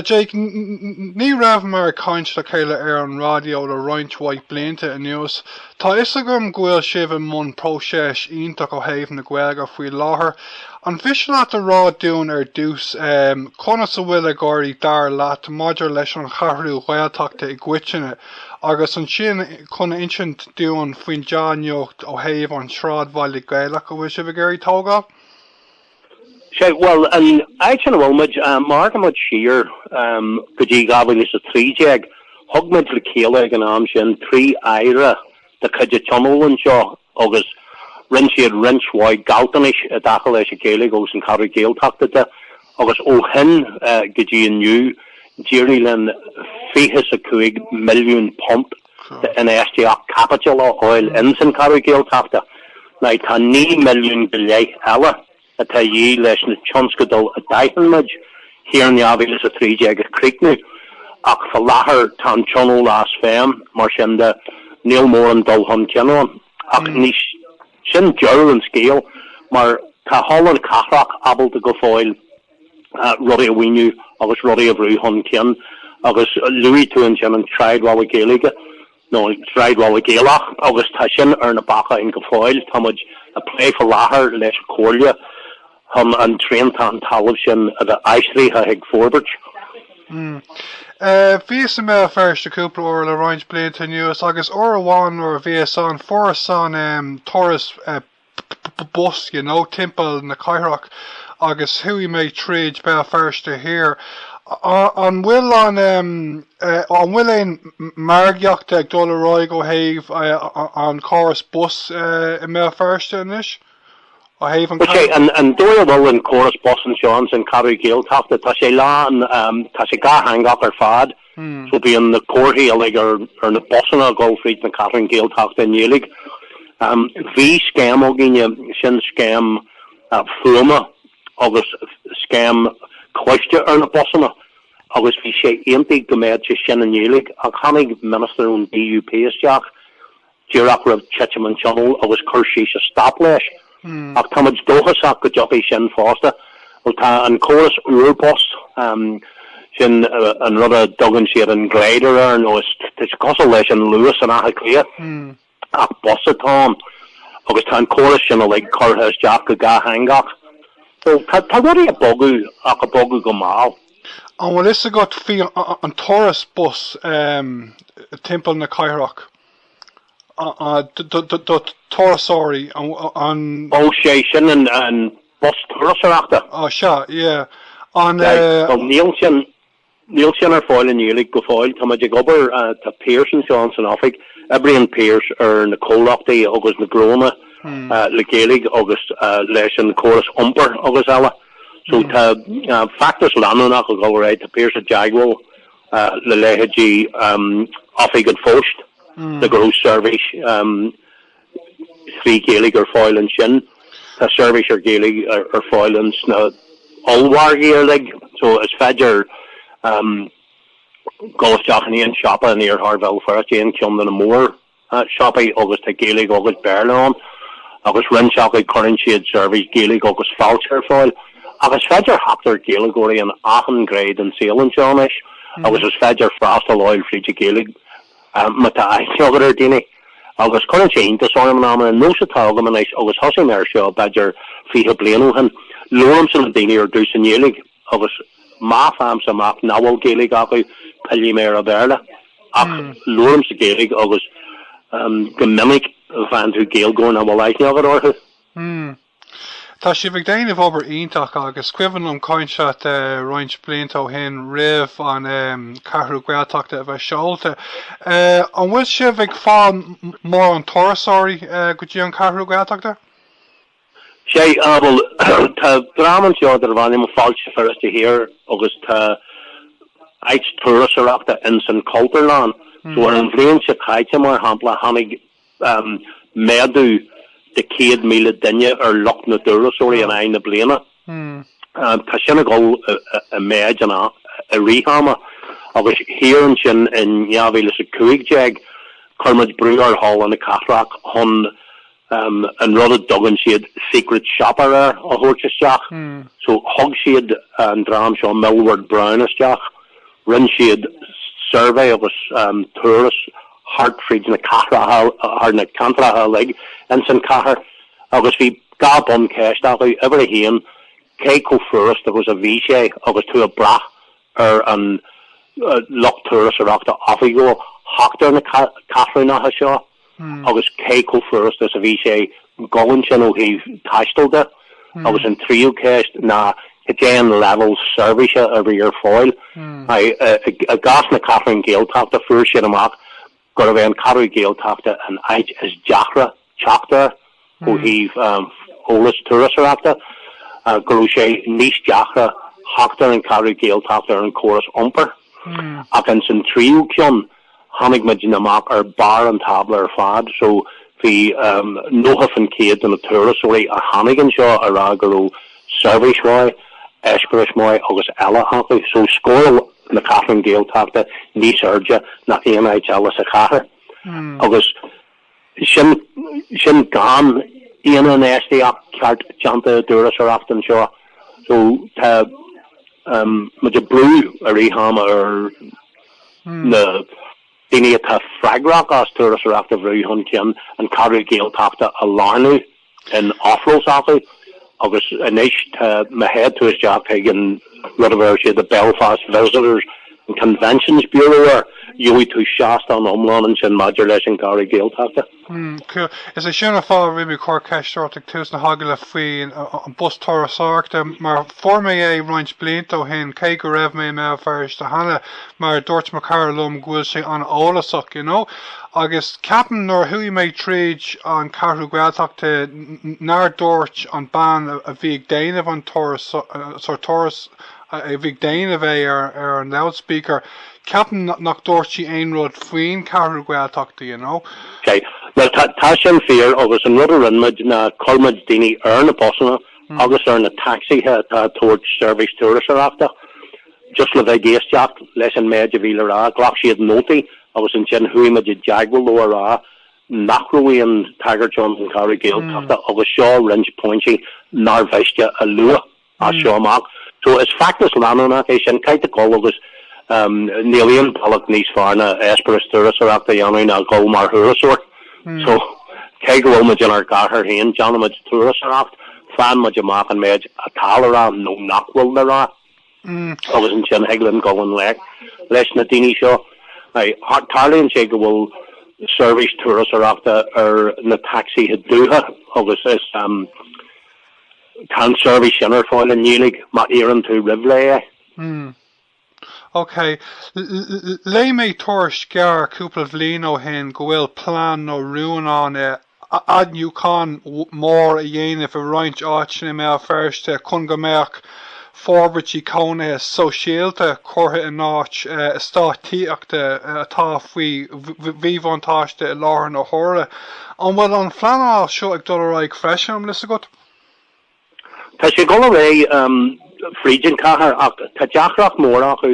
Jake, ní rabhamar ag caint le chéile ar an raidió le roinnt mhaith blianta anuas. Tá 'fhios agam go bhfuil sibh i mbun próiseas iontach ó thaobh na Gaeilge faoi láthair. An mhiste leat a rá dúinn ar dtús, conas a bhfuil ag éirí dar leat maidir leis an Cheathrú Ghaeltachta i gcoitinne, agus ansin chun a insint dúinn faoin dea-nuacht ó thaobh an tsráidbhaile Ghaelaigh a bhfuil sibh ag iarraidh a thógáil? Sé, bhuel, an áit ina bhfuil muid, má amharcann muid siar go dtí 2013, thug muid le chéile ag an am sin trí Aire de chuid an Tionóil anseo agus rinne siad roinnt mhaith gealltanais i dtaca leis an Ghaeilge agus an Cheathrú Ghaeltachta de agus ó shin go dtí inniu d'éirigh linn £25 milliún infheistíocht caipitil á fháil ins an Cheathrú Ghaeltachta ná tá naoi milliún go leith eile atá a dhíth leis na tionscadail a d'aithin muid thiar in 2013 a chríochnú ach faoi láthair tá an tionól as feidhm, mar sin de níl mórán dul chun cinn ann. Ach ní sin deireadh an scéil mar tá Halla na Cathrach ábalta go fóill, rudaí a mhaoiniú agus rudaí a bhrú chun cinn agus luaigh tú ansin an sráidbhaile Gaeilge nó an sráidbhaile Gaelach agus tá sin ar na bacáin go fóill. Tá muid ag plé faoi láthair leis an Chomhairle chun an triantán talaimh sin a bheith aistrithe chuig Forbairt. Bhíos i mBéal Feirste cúpla uair le roinnt blianta anuas agus uair amháin nuair a bhíos ann fuaireas an turas bus, you know, timpeall na cathrach agus chuaigh mé tríd Béal Feirste Thiar. An bhfuil an em, an bhfuil aon margaíochta ag dul ar aghaidh ó thaobh an córas bus i mBéal Feirste anois? Ó thaobh an Bhuel, sé an dóigh a bhfuil an córas bus anseo ins an Cheathrú Ghaeltachta, tá sé lán, tá sé dátheangach ar fad. So bíonn na comharthaí uilig ar na busanna ag dul fríd na Ceathrún Gaeltachta i nGaeilg. Bhí scéim againne, sin scéim fuaime agus scéim cloiste ar na busanna agus bhí sé aontaithe go mbeadh sé sin i nGaeilg ach tháinig minister ón DUP isteach díreach roimh titim an Tionóil agus chuir seisean stop leis. Ach táimid dóchasach go dtiocfaidh sin fosta. Bhuel, tá an córas úr bus, sin an rud a dtugann siad an Glider air, tá sé cosúil leis an Luas in Átha Cliath, ach bus atá ann, agus tá an córas sin uilig curtha isteach go dátheangach. So, tá rudaí ag bogadh, ach ag bogadh go mall. An bhfuil fhios agat faoi an turas bus timpeall na cathrach? do turasóirí an. Ó sé sin an bus turasóireachta. Ó sea, yeah. An. Bhuel, níl sin ar fáil i nGaeilge go fóill. Tá muid ag obair, tá Pearse anseo ins an oifig, oibríonn Pearse ar na comhlachtaí agus na gnónna le Gaeilge agus leis an gcóras iompair agus eile. So tá feachtas leanúnach ag dul ar aghaidh, tá Pearse i dteagmháil. le leithéidí Oifig an Phoist, le go raibh seirbhís trí Ghaeilge ar fáil ansin. Tá seirbhís ar Ghaeilge ar fáil ins na ollmhargaí uilig, so is féidir dul isteach in aon siopa in iarthar Bhéal Feirste, aon cheann de na mór siopaí agus tá Gaeilge agus Béarla ann agus roinnt acu cuireann siad seirbhís Gaeilge agus Fáilte ar fáil. Ach is féidir theacht ar Gaeilgeoirí in achan gné den saol anseo anois agus is féidir freastal a fháil fríd an Ghaeilge má tá aithne agat ar daoine. Agus cuireann sé iontas orm in amanna, nós atá agam anois agus thosaigh mé ar seo b'fhéidir fiche bliain ó shin, labhraímse le daoine ar dtús i nGaeilge. agus má faighimse amach nach bhfuil Gaeilge acu, pillfidh mé ar an Bhéarla. Ach labhraímse Gaeilge agus go minic faigheann tú Gaeilgeoir nach bhfuil aithne agat orthu. Hmm. Tá sibh ag déanamh obair iontach agus cuimhin liom caint leat roinnt blianta ó shin roimh an Cheathrú Ghaeltachta a bheith seolta. An bhfuil sibh ag fáil mórán turasóirí go dtí an Cheathrú Ghaeltachta? Sea, á bhuel, tá dream anseo darb ainm Fáilte Feirste Thiar agus tá áit turasóireachta ins an Chultúrlann so ar an bhliain seo caite mar shampla tháinig méadú de 100,000 duine ar lucht na dturasóirí in aghaidh na bliana. Tá sin ag dul i méid in i rith ama agus thiar ansin in 2015 chuir muid brú ar Halla na Cathrach chun um an rud a dtugann siad secret shopper air a thabhairt isteach. So thug siad an dream seo Millward Brown isteach, rinne siad suirbhé agus um turas thart fríd na cathracha, thar na ceantracha uilig ins an chathair agus bhí dhá bhuncheist acu, uimhir a haon, cé chomh furast agus a bhí sé agus tú ag brath ar an lucht turasóireachta oifigiúil theacht ar na ceathrúnacha seo agus cé chomh furast is a bhí sé dul ansin ó thaobh taistil de agus an tríú ceist ná cad é an leibhéal seirbhíse a bhí ar fáil. I gcás na Ceathrún Gaeltachta fuair siad amach gurbh é an Ceathrú Gaeltachta an áit is deacra teacht air ó thaobh eolas turasóireachta, go raibh sé níos deacra theacht ar an Cheathrú Gaeltachta ar an chóras iompair. Ach ins an tríú ceann, tháinig muid amach ar barr an tábla ar fad, so bhí 90 fán chéad de na turasóirí a tháinig anseo ag rá go raibh seirbhís mhaith, eispéireas maith agus eile acu. So scór. na Ceathrún Gaeltachta níos airde ná aon áit eile sa chathair, agus sin gan aon infheistíocht cheart déanta i dturasóireacht anseo. So tá muid ag brú i rith ama ar na daoine atá freagrach as turasóireacht a bhrú chun cinn an Cheathrú Ghaeltachta a lárnú. in ábhar s'acu agus anois tá má théid tú isteach chuig an rud a bheir siad the Belfast Visitors and Conventions Bureau air gheobhaidh tú seastán iomlán ansin maidir leis an gCeathrú Ghaeltachta. Mm, cool. Is é sin an fáth a raibh mé ag cur ceist ort ag tús na hagallaimh faoi an bus turasóireachta mar fuair mé é roinnt blianta ó shin cé go raibh mé i mBéal Feirste cheana. mar a dúirt mo chara liom go bhfuil sé an-eolasach you know agus ceapaim nuair a chuaigh mé tríd an Ceathrú Ghaeltachta nár dúirt an bean a bhí ag déanamh an turas sórt turas a bhí ag déanamh é ar ar an loudspeaker ceapaim nach dúirt sí aon rud faoin Ceathrú Ghaeltachta you know. Ok bhuel tá tá sin fíor agus an rud a rinne muid ná chuir muid daoine ar na busanna agus ar na tacsaithe atá ag tabhairt seirbhís turasóireachta Just le bheith ag éisteacht leis an méid a bhí le rá, ghlac siad nótaí agus ansin chuaigh muid i dteagmháil leo a rá nach raibh aon tagairt ann don Cheathrú Gaeltachta agus seo roinnt pointí nár mhiste a lua as seo amach. So is feachtas leanúnach é sin, caithfidh tú dhul agus níl aon bealach níos fearr ná eispéireas turasóireachta a dhéanamh ná dhul mar thurasóir. So cé go bhfuil muid inár gcathair féin, déanann muid turasóireacht, faigheann muid amach an méid atá le rá nó nach bhfuil le rá. agus ansin thig linn gabháil i ngleic leis na daoine seo. Tarlaíonn sé go bhfuil seirbhís turasóireachta ar na tacsaithe dubha agus is tá an seirbhís sin ar fáil i nGaeilge má iarrann tú roimh ré é. OK. Léigh mé tuairisc gearr cúpla bhliain ó shin go bhfuil plean nó rún ann athnuachan mór a dhéanamh i roinnt áiteanna i mBéal Feirste chun go mbeadh forbairtí cónaithe sóisialta curtha in áit eastáit tithíochta atá faoi mhíbhuntáiste i láthair na huaire. An bhfuil an phleanáil seo ag dul ar aghaidh freisin, an bhfuil fhios agat? Tá sé ag dul ar aghaidh fríd an chathair ach tá deacracht mhór acu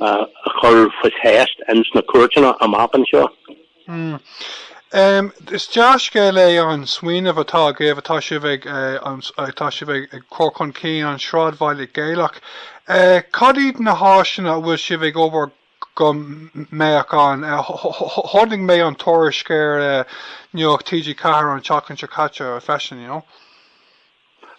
a chur faoi cheist ins na cúirteanna amach anseo. Hmm. Em, is dea-scéal é an smaoineamh atá agaibh atá sibh ag, eh, an, atá sibh ag, ag cur chun cinn, an Sráidbhaile Gaelach. Eh, cad iad na háiseanna a bhfuil sibh ag obair go mbeadh ann? Eh, chonaic mé an tuairisc ar, eh, Nuacht TG4 an tseachtain seo caite freisin, you know.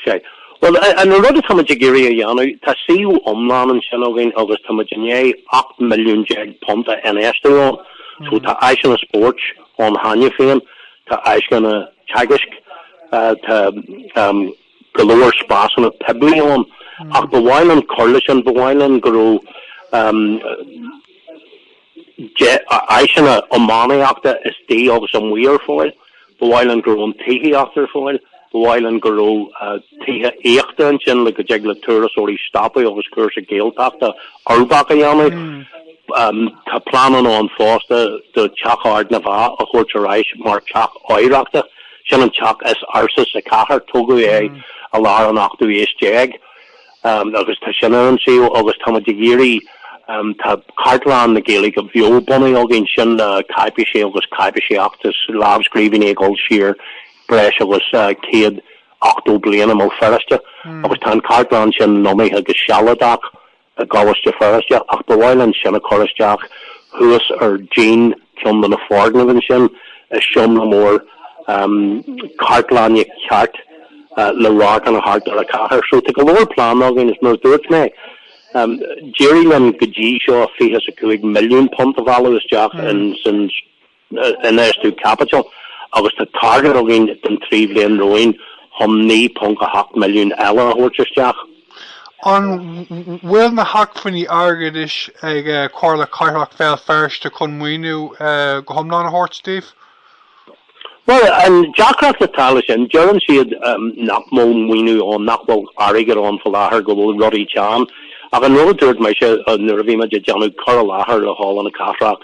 Ok. Bhuel, an rud atá muid ag iarraidh a dhéanamh, tá suíomh iomlán ansin againn agus tá muid i ndiaidh ocht milliún déag punt a infheistiú ann. So tá áiseanna spóirt ann cheana féin, tá áiseanna teagaisc, tá go leor spásanna poiblí ann. Ach ba mhaith linn cur leis sin, ba mhaith linn go raibh, áiseanna iománaíochta istigh agus amuigh ar fáil. Ba mhaith linn go raibh an tithíocht ar fáil. Ba mhaith linn go raibh tithe aíochta ansin le go dtig le turasóirí stopadh agus cúrsa Gaeltachta uirbeach a dhéanamh. Tá pleananna ann fosta do Teach Ard na bhFeá a thabhairt ar ais mar Theach Oidhreachta. Sin an teach is ársa sa chathair. Tógadh é i lár an ochtú aois déag. agus tá sin ar an suíomh agus táimid ag iarraidh, tá Cartlann na Gaeilge bheo bunaithe againn, sin le cáipéisí agus cáipéisí feachtais, lámhscríbhinní ag dul siar breis agus céad ochtó bliain i mBéal Feirste, agus tá an chartlann sin lonnaithe go sealadach i gColáiste Feirste, ach ba mhaith linn sin a chur isteach thuas ar dhíon ceann de na foirgnimh ansin, i seomra mór cartlainne ceart. le radharcanna thart ar an chathair. So tá go leor pleananna againn is mar a dúirt mé, d'éirigh linn go dtí seo fiche 's a cúig milliún punt a mhealladh isteach in san infheistiú caipitil agus tá target againn don trí bhliain romhainn chun 9.8 milliún eile a thabhairt isteach. An bhfuil na hacmhainní airgeadais ag Comhairle Cathrach Bhéal Feirste chun maoiniú go hiomlán a thabhairt daoibh? Bhuel, an deacracht atá leis sin, deireann siad nach bhfuil maoiniú ann, nach bhfuil airgead ann fá láthair, go bhfuil rudaí teann. Ach an rud a dúirt mise nuair a bhí muid ag déanamh cur i láthair le Halla na Cathrach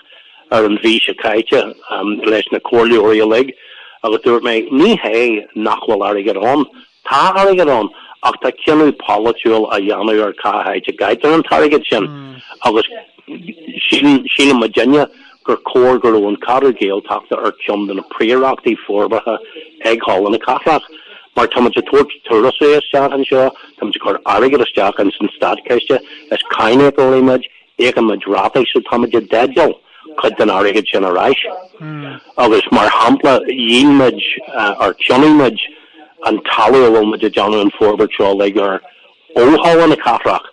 ar an mhí seo caite leis na comhairleoirí uilig, agus dúirt mé, ní hé nach bhfuil airgead ann, Tá airgead ann, ach tá cinneadh polaitiúil á dhéanamh ar cá háit a gcaitear an t-airgead sin, agus shíl muidinne gur chóir go raibh an Cheathrú Gaeltachta ar cheann de na príorachtaí forbartha ag Halla na Cathrach, mar táimid ag tabhairt turasóirí isteach anseo, táimid ag cur airgead isteach ins an Státchiste, is cáiníocóirí muid, Íocaimid rátaí só táimid i dteideal cuid den airgead sin ar ais. Agus mar shampla, dhíol muid, or cheannaigh muid, an talamh a bhfuil muid ag déanamh an forbairt seo uilig air ó Halla na Cathrach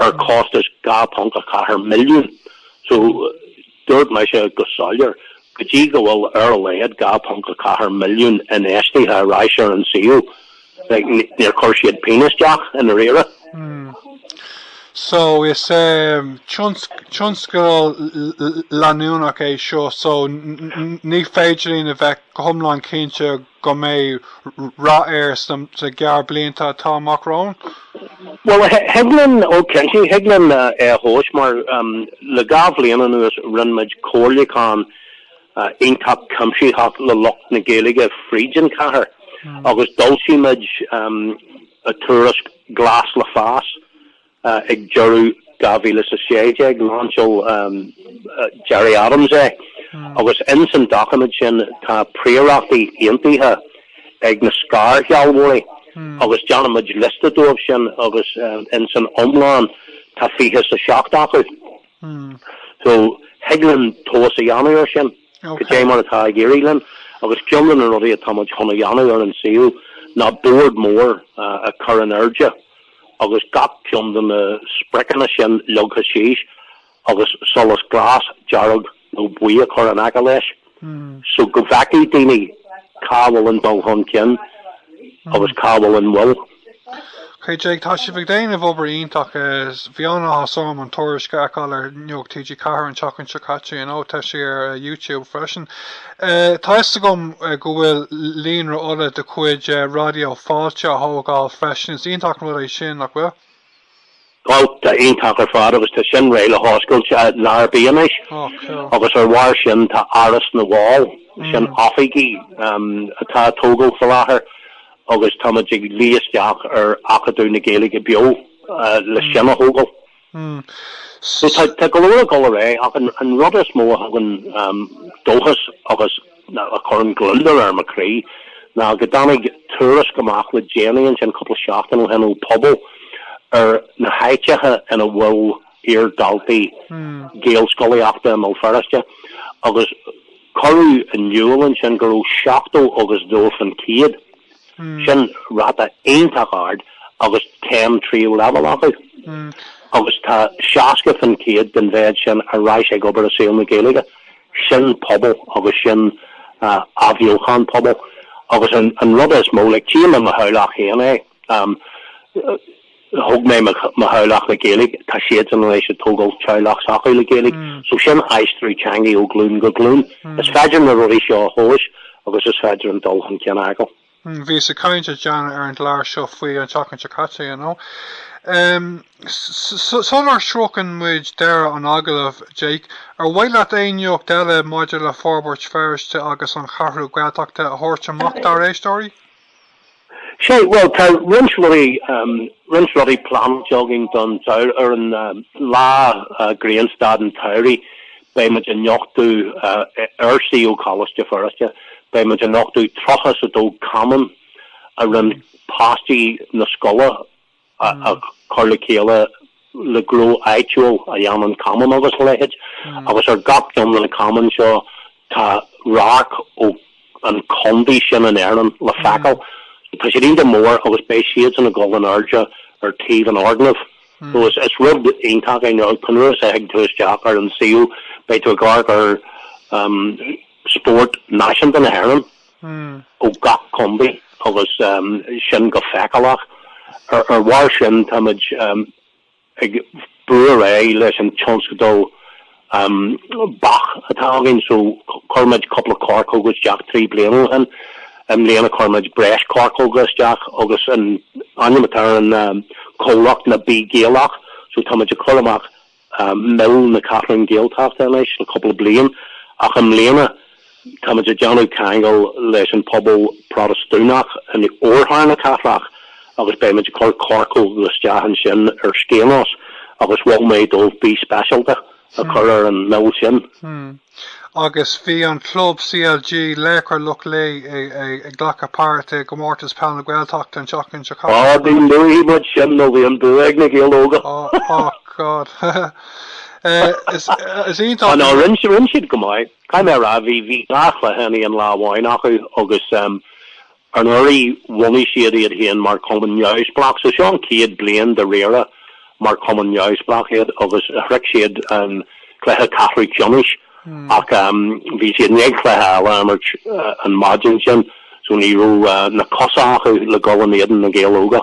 ar chostas 2.4 milliún. So. Dúirt mise go soiléir, go dtí go bhfuil ar a laghad 2.4 milliún infheistithe ar ais ar an suíomh, níor chuir siad pingin isteach i ndáiríre. So, is tionscadal leanúnach é seo, so ní féidir linn a bheith go hiomlán cinnte go mbeidh rath air sna gearr blianta atá amach romhainn. Bhuel, thig linn, ó cinnte, thig linn é a thomhas mar, le dhá bhliain anuas, rinne muid comhairliúchán iontach cuimsitheach le lucht na Gaeilge fríd an chathair agus d'fhoilsigh muid an tuairisc Gléas le Fás Ag deireadh 2016, lainseáil Gerry Adams é, agus ins an doiciméad sin tá príorachtaí aontaithe ag na scairshealbhóirí, agus déanfaimid liosta dóibh sin, agus ins an iomlán tá fiche is a seacht acu. So, thig linn tomhas a dhéanamh ar sin, cad é mar atá ag éirí linn, agus ceann de na rudaí atáimid chun a dhéanamh ar an suíomh ná bord mór a chur in airde, agus gach ceann de na spriocanna sin leagtha síos agus solas glas, dearg nó buí a chur in aice leis so go bhfeicfidh daoine cá bhfuil an dul chun cinn agus cá bhfuil an mhoill. Okay Jake, tá sibh ag déanamh obair iontach. Bhí an-áthas orm an tuairisc a fheiceáil ar nuacht TG4 an tseachtain seo caite, you know, tá sé ar YouTube freisin. Tá fhios agam go bhfuil Líonra Uladh de chuid Raidió Fáilte á thógáil freisin. Is iontach an rud é sin, nach bhfuil? Ó, tá iontach ar fad agus tá sin réidh le hoscailt lá ar bith anois. Agus ar bharr sin tá Áras na bhFál, sin oifigí atá á dtógáil faoi láthair agus táimid ag luí isteach ar Acadamh na Gaeilge Beo le sin a thógáil. Hmm. So tá tá go leor ag dul ar aghaidh ach an an rud is mó a thugann um, dóchas agus na- a chuireann gliondar ar mo chroí ná go dtáinig tuairisc amach le déanaí ansin cúpla seachtain ó shin ó Pobal ar na háiteacha ina bhfuil iardhaltaí Hmm. gaelscolaíochta i mBéal Feirste agus cuireadh in iúl ansin go raibh 70 agus 2% Sin ráta iontach ard agus céim tríú leibhéal acu agus tá 60 fán chéad den mhéad sin ar ais ag obair i saol na Gaeilge. Sin pobal agus sin athbheochán pobail. Agus an rud is mó, like, tchím i mo theaghlach féin é, thóg mé mo theaghlach le Gaeilge, tá siadsan anois ag tógáil teaghlach s'acu le Gaeilge, so sin aistriú teanga ó ghlún go glún. Is féidir na rudaí seo a thomhas agus is féidir an dul chun cinn a fheiceáil. Bhí sé ag caint linn cheana ar an gclár seo faoi an tseachtain seo caite, you know. Sular shroicheann muid deireadh an agallaimh, Jake, ar mhaith leat aon nuacht eile maidir le Forbairt Feirste agus an Cheathrú Gaeltachta a thabhairt amach dár éisteoirí? Sea, bhuel, tá roinnt rudaí, roinnt rudaí pleanáilte againn don samhradh. Ar an lá grianstad an tsamhraidh, beidh muid ag nochtadh, ar suíomh Choláiste Feirste, beidh muid ag nochtadh tríocha is a dó camán a rinne páistí na scoile a chur le chéile le gnó áitiúil a dhéanann camán agus a leithéid agus ar gach ceann de na camáin seo tá radharc ó an contae sin in Éirinn le feiceáil. Tá siad iontach mór agus beidh siadsan ag dul in airde ar taobh an fhoirgnimh. So is rud iontach é nó cibé uair a thig tú isteach ar an suíomh beidh tú ag amharc ar spórt náisiúnta na hÉireann. ó gach contae agus sin go feiceálach. Ar bharr sin táimid ag brú ar aghaidh leis an tionscadal beach atá againn so chuir muid cúpla coirceoga isteach trí bliana ó shin. I mbliana chuir muid breis coirceoga isteach agus an ainm atá ar an comhlacht ná Bee Gaelach so táimid ag cur amach mil na Ceathrún Gaeltachta anois le cúpla bliain ach i mbliana táimid ag déanamh ceangal leis an pobal Protastúnach in Oirthear na Cathrach agus beimid ag cur coirceoga isteach ansin ar Skainos agus mhol mé dóibh Bee Speisialta a chur ar an mil sin. agus bhí an club CLG Laochra Loch Lao ag glacadh páirt i gComórtas Peil na Gaeltachta an tseachtain seo caite. Ní luafaidh muid sin nó bhí an bua ag na Gaeil Óga. Oh God. Is iontach. Á ná rinn siad go maith. Caithfidh mé a rá bhí dhá chluiche in aon lá amháin acu agus Anuraidh bhunaigh siad iad féin mar chumann neamhspleách, so seo an chéad bhliain dáiríre mar chumann neamhspleách iad agus shroich siad an cluiche ceathrú ceannais ach bhí siad i ndiaidh cluiche eile a imirt an maidin sin so ní raibh na cosa acu le dhul in éadan Na Gaeil Óga.